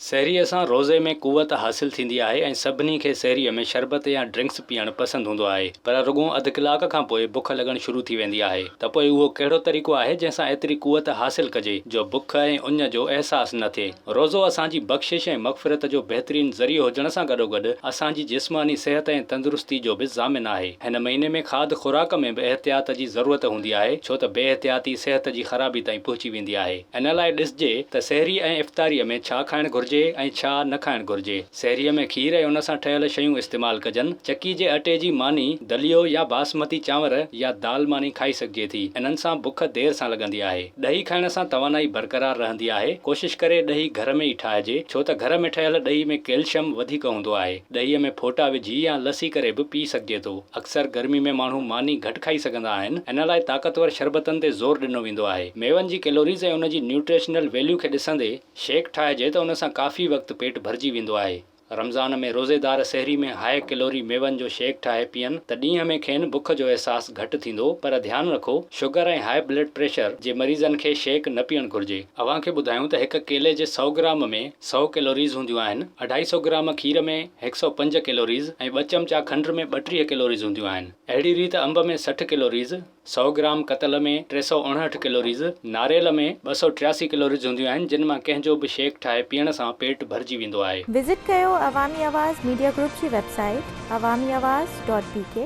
سحريء سان روزي ۾ قوت حاصل ٿيندي آهي ۽ سڀني کي سحريء ۾ شربت يا ڊرنڪس پيئڻ پسند هوندو آهي پر رڳون اڌ ڪلاڪ کان پوء بک لڳڻ شروع ٿي ويندي آهي ته پوء اهو ڪهڙو طريقو آهي جنهن سان ايتري قوت حاصل ڪجي جو بک ۽ اڃ جو احساس نه ٿئي. روزو اسان جي بخشش ۽ مغفرت جو بهترين ذريعو هجڻ سان گڏوگڏ اسان جي جسماني صحت ۽ تندرستي جو به ضامن آهي. هن مهيني ۾ کاڌ خوراڪ ۾ به احتياط جي ضرورت هوندي آهي ڇو ته بي احتياطي صحت جي خرابي تائين پهچي ويندي آهي. ان لاء ڏسجي ته سحري ۽ افطاريء ۾ ڇا کائڻ گهرجي ۽ ڇا نه کائڻ گهرجي. سحريء ۾ کير ۽ ان سان ٺهيل شيون استعمال ڪجن. چڪي جي اٽي جي ماني، دليو يا باسمتي چانور يا دال ماني کائي سگهجي ٿي. انهن سان بک دير سان لڳندي آهي. ڏهي کائڻ سان توانائي برقرار رهندي آهي. ڪوشش ڪري ڏهي گهر ۾ ئي ٺاهجي ڇو ته گهر ۾ ٺهيل ڏهي ۾ ڪيلشم وڌيڪ هوندو آهي. ڏهيء ۾ ڦوٽا وجهي يا لسي ڪري به پي سگهجي ٿو. اڪثر گرمي ۾ ماڻهو ماني گهٽ کائي سگهندا آهن، ان لاء طاقتور شربتن تي زور ڏنو ويندو آهي. ميون جي ڪيلوريز ۽ ان جي نيوٽريشنل ويليو کي ڏسندي شيڪ ٺاهجي ته ان سان ڪافي وقت پيٽ ڀرجي ويندو آهي. رمضان ۾ روزيدار سحري ۾ هاء ڪيلوري ميون جو شيڪ ٺاهي پيئن ته ڏينهن ۾ کين بک جو احساس گهٽ ٿيندو پر ڌيان رکو شگر ۽ هاء بلڊ پريشر جي مريضن کي شيڪ نه پيئڻ گهرجي. اوهان کي ٻڌايون ته هڪ ڪيلي جي سؤ گرام ۾. سؤ ڪيلوريز هونديون آهن. اڍائي سؤ گرام کير ۾ هڪ سؤ پنج ڪيلوريز ۽ ٻه چمچا کنڊ ۾ ٻٽيهه ڪيلوريز هونديون آهن. اهڙي ريت انب ۾ سٺ ڪيلوريز، سؤ گرام ڪتل ۾ ٽي سؤ اڻهٺ ڪيلوريز، ناريل ۾ ٻه سؤ ٽياسي ڪيلوريز هونديون آهن جن مان ڪنهن جو به شيڪ ٺاهي پيئڻ سان پيٽ ڀرجي ويندو آهي. وزٽ ڪيو عوامي آواز ميڊيا گروپ جي website Awami Awaz dot بي ڪي.